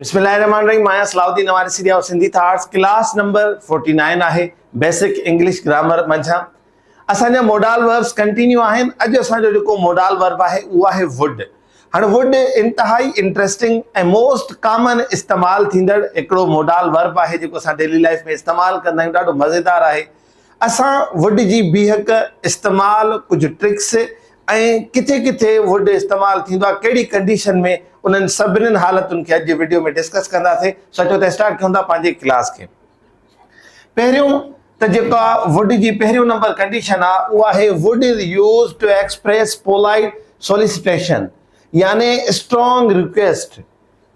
بسم الله الرحمن الرحيم آهيان صلاح الدين نواري سيريا او سنڌي ٿارس ڪلاس نمبر 49 آهي بيسڪ انگلش گرامر منجھان اسان جا موڊال وربس ڪنٽينيو آهن اڄ اسان جو جيڪو موڊال ورب آهي اهو آهي وڊ هن وڊ انتهائي انٽريسٽنگ ۽ موسٽ ڪامن استعمال ٿيندڙ هڪڙو موڊال ورب آهي جيڪو اسان ڊيلي لائف ۾ استعمال ڪندا آهيون ڏاڍو مزيدار آهي اسان ووڊ جي بيهڪ استعمال، ڪجهه ٽرڪس ۽ ڪٿي ڪٿي ووڊ استعمال ٿيندو آهي ڪهڙي ڪنڊيشن ۾ انهن سڀني حالتن کي اڄ جي وڊيو ۾ ڊسڪس ڪنداسين سو اچو ته اسٽارٽ ڪيون ٿا پنهنجي ڪلاس کي پهريون ته جيڪا ووڊ جي پهريون نمبر ڪنڊيشن آهي اها آهي would is use to express polite solicitation يعني اسٽرانگ ريڪويسٽ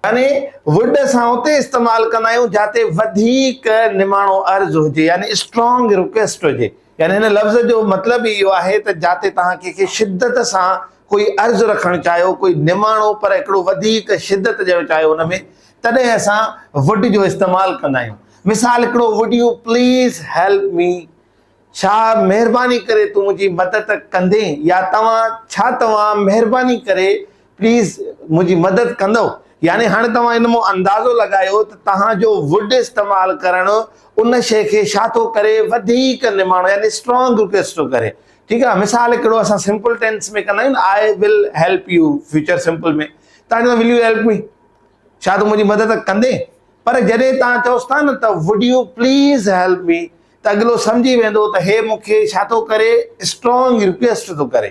يعني ووڊ اسان اتي استعمال ڪندا آهيون جاتي وڌيڪ نماڻو عرض هجي يعني اسٽرانگ رڪويسٽ هجي يعني هن لفظ جو مطلب ئي اهو آهي ته جاتي توهان ڪنهن کي شدت سان ڪوئي عرض رکڻ چاهيو ڪوئي نماڻو پر هڪڙو وڌيڪ شدت ڏيڻ چاهيو ان ۾ تڏهن اسان ووڊ جو استعمال ڪندا آهيون مثال هڪڙو would you please help me ڇا مهرباني ڪري تون منهنجي مدد ڪندين يا توهان ڇا توهان مهرباني ڪري پليز منهنجي مدد ڪندؤ يعني هاڻي توهان ان مان اندازو لڳايو ته توهان جو ووڊ استعمال ڪرڻ ان شئي کي ڇا ٿو ڪري وڌيڪ نماڻو يعني اسٽرانگ ريڪويسٽ ٿو ڪري ٺيڪ آهي مثال هڪڙو اسان سمپل ٽينس ۾ ڪندا آهيون I will help you future simple ۾ تان جو ول يو هيلپ مي ڇا تون منهنجي مدد ڪندين پر جڏهن تان چوس ٿا نه ته would you please help me ته اڳلو سمجهي ويندو ته هي مون کي ڇا ٿو ڪري اسٽرانگ ريڪويسٽ ٿو ڪري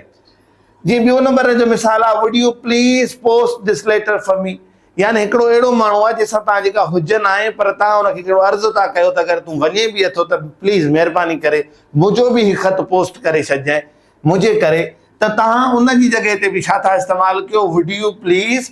جي ٻيو نمبر جو مثال آ would you please post this letter for me يعني هڪڙو اهڙو ماڻهو آ جنهن سان توهان جي ڪا حجه ناهي پر توهان ان کي ڪهڙو عرض ٿا ڪيو ته اگر تون وڃي به اٿو ته پليز مهرباني ڪري منهنجو به هي خط پوسٽ ڪري ڇڏجانء منهنجي ڪري ته توهان ان جي جڳهه تي به ڇا ٿا استعمال ڪيو وڊ يو پليز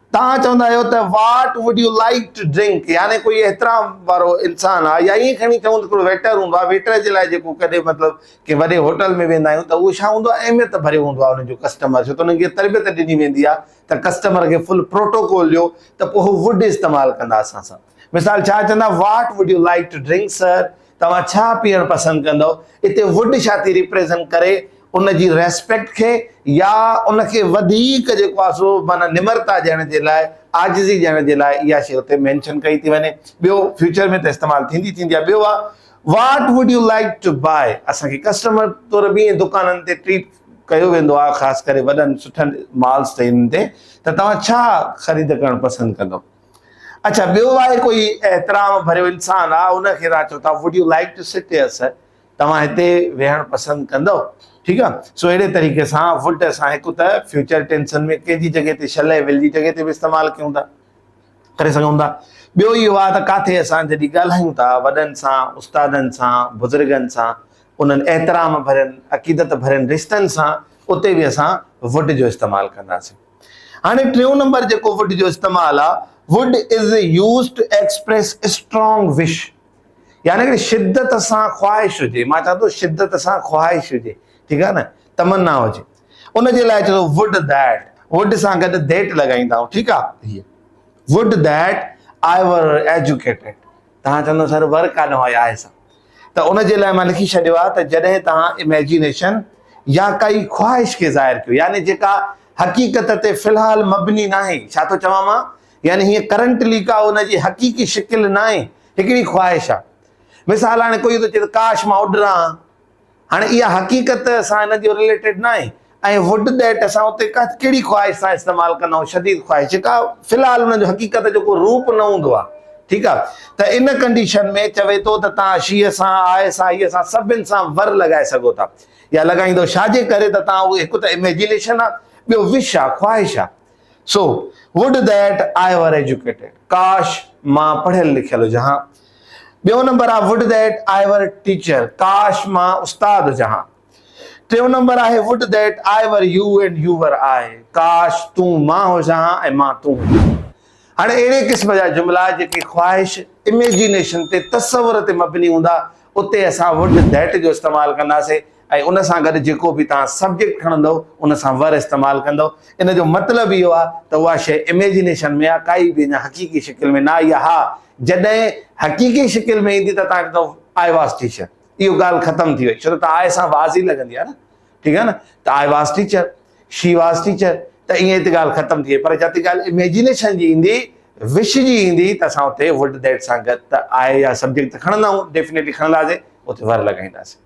توهان چوندا آهيو ته what would you like to drink يعني ڪوئي احترام وارو انسان آهي يا ائين کڻي چئون ته هڪڙو ويٽر هوندو آهي ويٽر جي لاء جيڪو ڪڏهن مطلب ڪنهن وڏي هوٽل ۾ ويندا آهيون ته اهو ڇا هوندو آهي اهميت ڀريو هوندو آهي انهن جو ڪسٽمر ڇو ته انهن کي تربيت ڏني ويندي آهي ته ڪسٽمر کي فل پروٽوڪول ڏيو ته پوء هو وڊ استعمال ڪندا اسان سان مثال ڇا چوندا what would you like to drink sir? توهان ڇا پيئڻ پسند ڪندؤ؟ اتي ووڊ ڇا ٿي ريپريزنٽ ڪري؟ ان جي ريسپيڪٽ کي يا ان کي وڌيڪ جيڪو آهي سو معنيٰ نمرتا ڏيڻ جي لاء، عاجزي ڏيڻ جي لاء اها شيء اتي مينشن ڪئي ٿي وڃي. ٻيو فيوچر ۾ ته استعمال ٿيندي ٿيندي آهي. ٻيو آهي What would you like to buy؟ اسان کي ڪسٽمر طور به ائين دڪانن تي ٽريٽ ڪيو ويندو آهي خاص ڪري وڏن سٺن مالز تي ان تي ته توهان ڇا خريد ڪرڻ پسند ڪندؤ؟ اڇا ٻيو آهي ڪوئي احترام ڀريو انسان آ ان کي تان چو ٿا would you like to sit here سر توهان هتي ويهڻ پسند ڪندو ٺيڪ آ سو اهڙي طريقي سان ووڊ اسان هڪ ته فيوچر ٽينسن ۾ ڪنهن جي جڳهه تي شل ۽ ول جي جڳهه تي به استعمال ڪيون ٿا ڪري سگهون ٿا ٻيو اهو آ ته ڪاٿي اسان جڏهن ڳالهايون ٿا وڏن سان استادن سان بزرگن سان انهن احترام ڀرين عقيدت ڀرين رشتن سان اتي به اسان ووڊ جو استعمال ڪنداسين هاڻي ٽيون نمبر جيڪو ووڊ جو استعمال آ Wood is used to express strong wish يعني ڪي شدت سان خواهش هجي مان چوان ٿو شدت سان خواهش هجي ٺيڪ آ نه تمنا هجي ان جي لاء چوندو Wood that Wood سان گڏ that لڳائيندا آهيون ٺيڪ آ Wood that I were educated توهان چوندو سر ور ڪانه هئا آهي سا ته ان جي لاء مان لکي ڇڏيو آهي ته جڏهن توهان اميجنيشن يا ڪائي خواهش کي ظاهر ڪيو يعني جيڪا حقيقت تي في الحال مبني ناهي ڇا ٿو چوان مان يعني هيء ڪرنٽلي ڪا ان جي حقيقي شڪل ناهي هڪڙي خواهش آهي مثال هاڻي ڪوئي ٿو چئي ته ڪاش مان اڏران هاڻي اها حقيقت ته اسان ان جو رليٽيڊ ناهي ۽ وٽ ڏيٽ اسان اتي ڪهڙي خواهش سان استعمال ڪندا آهيون شديد خواهش جيڪا في الحال ان جو حقيقت جو ڪو روپ نه هوندو آهي ٺيڪ آهي ته ان ڪنڊيشن ۾ چوي ٿو ته توهان شيء سان آء سان هيء سان سڀن سان ور لڳائي سگهو ٿا يا لڳائيندو ڇاجي ڪري ته توهان اهي هڪ ته اميجنيشن آهي ٻيو وش آهي خواهش آهي سو وڊ ڏيٽ آء ور ايجوڪيٽيڊ ڪاش مان پڙهيل لکيل هجان ها ٻيو نمبر آهي would that I were teacher, ڪاش مان استاد هجان ها. ٽيون نمبر آهي would that I were you and you were I, ڪاش تون مان هجان ها ۽ مان تون هجان ها. هاڻي اهڙي قسم جا جملا جيڪي خواهش، Imagination، تي تصور تي مبني هوندا اتي اسان ووڊ ديٽ جو استعمال ڪنداسين. ۽ ان سان گڏ جيڪو به توهان سبجيڪٽ کڻندؤ ان سان ور استعمال ڪندؤ. ان جو مطلب اهو آهي ته اها شيء اميجنيشن ۾ آهي ڪائي به اڃا حقيقي شڪل ۾ نه آئي آهي. ها جڏهن حقيقي شڪل ۾ ايندي ته توهان کي چوندو آء واز ٽيچر اهو ڳالهه ختم ٿي وئي ڇو ته آء سان واز ئي لڳندي آهي نه ٺيڪ آهي نه ته I was teacher she was teacher ته ائين هتي ڳالهه ختم ٿي وئي پر جتي ڳالهه اميجنيشن جي ايندي وش جي ايندي ته اسان اتي وڊ ديٽ سان گڏ ته آء يا سبجيڪٽ ته کڻندا آهيون ڊيفنيٽلي کڻنداسين اتي ور لڳائينداسين.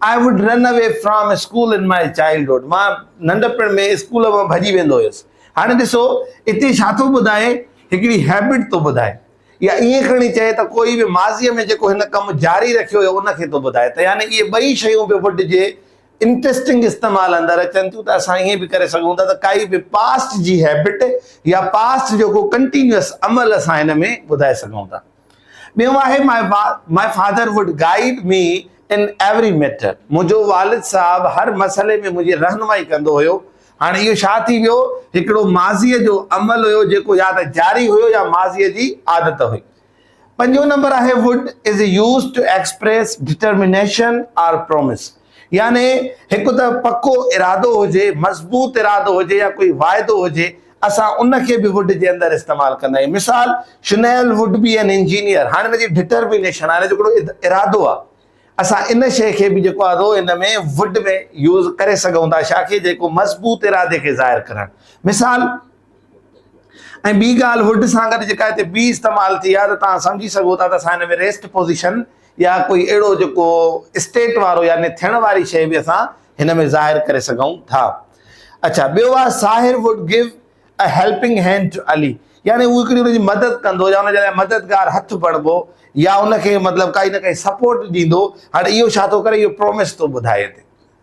I would run away from school in my childhood مان ننڍپڻ ۾ اسڪول مان ڀڄي ويندو هيس. هاڻي ڏسو اتي ڇا ٿو ٻڌائي هڪڙي هيبٽ ٿو ٻڌائي يا ائين کڻي چئي ته ڪوئي به ماضيء ۾ جيڪو هن ڪم جاري رکيو هيو ان کي ٿو ٻڌائي ته يعني اهي ٻئي شيون به would جي انٽرسٽنگ استعمال اندر اچن ٿيون ته اسان ائين به ڪري سگهون ٿا ته ڪائي به پاسٽ جي هيبٽ يا پاسٽ جو ڪو ڪنٽينيوس عمل اسان هن ۾ ٻڌائي سگهون ٿا. ٻيو آهي my father would guide me in every matter منهنجو والد صاحب هر مسئلي ۾ منهنجي رهنمائي ڪندو هيو هاڻي اهو ڇا ٿي ويو هڪڙو ماضي جو عمل هيو جيڪو يا ته جاري هيو يا ماضي جي عادت هئي پنجون نمبر آهي would is use to express determination or promise يعني هڪ ته پڪو ارادو هجي، مضبوط ارادو هجي يا ڪوئي واعدو هجي، اسان ان کي به ووڊ جي اندر استعمال ڪندا آهيون. مثال، Sunil would be an engineer, هاڻي ان جي ڊٽر بي نيشن آهي، جو هڪڙو ارادو آهي. اسان ان شيء کي به جيڪو آهي سو ان ۾ ووڊ ۾ يوز ڪري سگهون ٿا، شا کي جيڪو مضبوط ارادي کي ظاهر ڪرڻ. مثال، ۽ ٻي ڳالهه ووڊ سان گڏ جيڪا هتي بي استعمال ٿي آهي ته توهان سمجهي سگهو ٿا ته اسان هن ۾ ريسٽ پوزيشن، يا ڪوئي اهڙو جيڪو اسٽيٽ وارو يعني ٿيڻ واري شيء به اسان هن ۾ ظاهر ڪري سگهون ٿا. اڇا ٻيو آهي Sahir would gave a helping hand to Ali يعني هو هڪڙي ان جي مدد ڪندو يا ان جي لاء مددگار هٿ بڻبو يا ان کي مطلب ڪائي نه ڪائي سپورٽ ڏيندو هاڻي اهو ڇا ٿو ڪري اهو پرومس ٿو ٻڌائي هتي.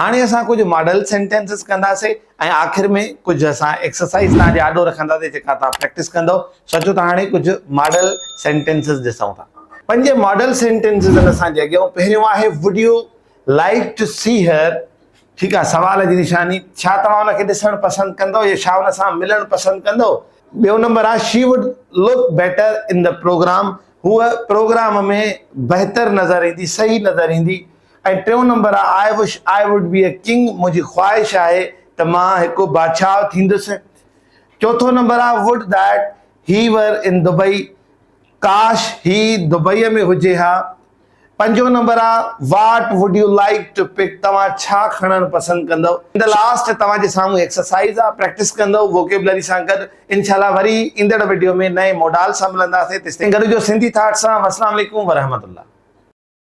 هاڻي اسان ڪجهه ماڊل سينٽينسز ڪنداسين ۽ آخر ۾ ڪجهه اسان ايڪسرسائيز توهان جي آڏو رکنداسين جيڪا توهان پريڪٽس ڪندؤ سو اچو ته هاڻي ڪجهه ماڊل سينٽينسز ڏسون ٿا پنج ماڊل سينٽينسز آهن اسان جي اڳيان پهريون آهي would you like to see her ٺيڪ آهي سوال جي نشاني ڇا توهان ان کي ڏسڻ پسند ڪندؤ يا ڇا ان سان ملڻ پسند ڪندؤ ٻيو نمبر آهي she would look better in the programme هوء پروگرام ۾ بهتر نظر ايندي صحيح نظر ايندي ۽ ٽيون نمبر آ I wish I would be a king منهنجي خواهش آهي ته مان هڪ بادشاهه ٿيندس چوٿون نمبر آ would that he were in Dubai ڪاش هي دبئي ۾ هجي ها پنجون نمبر آ what would you like to pick توهان ڇا کڻڻ پسند ڪندو ان دي لاسٽ توهان جي سامهون ايڪسرسائز آ پريڪٽس ڪندو ووڪيبلري سان گڏ انشاء الله وري ايندڙ وڊيو ۾ نئين موڊال سان ملنداسين تيستائين گڏ هجو سنڌي ٿاٽ سان والسلام عليڪم ورحمة الله.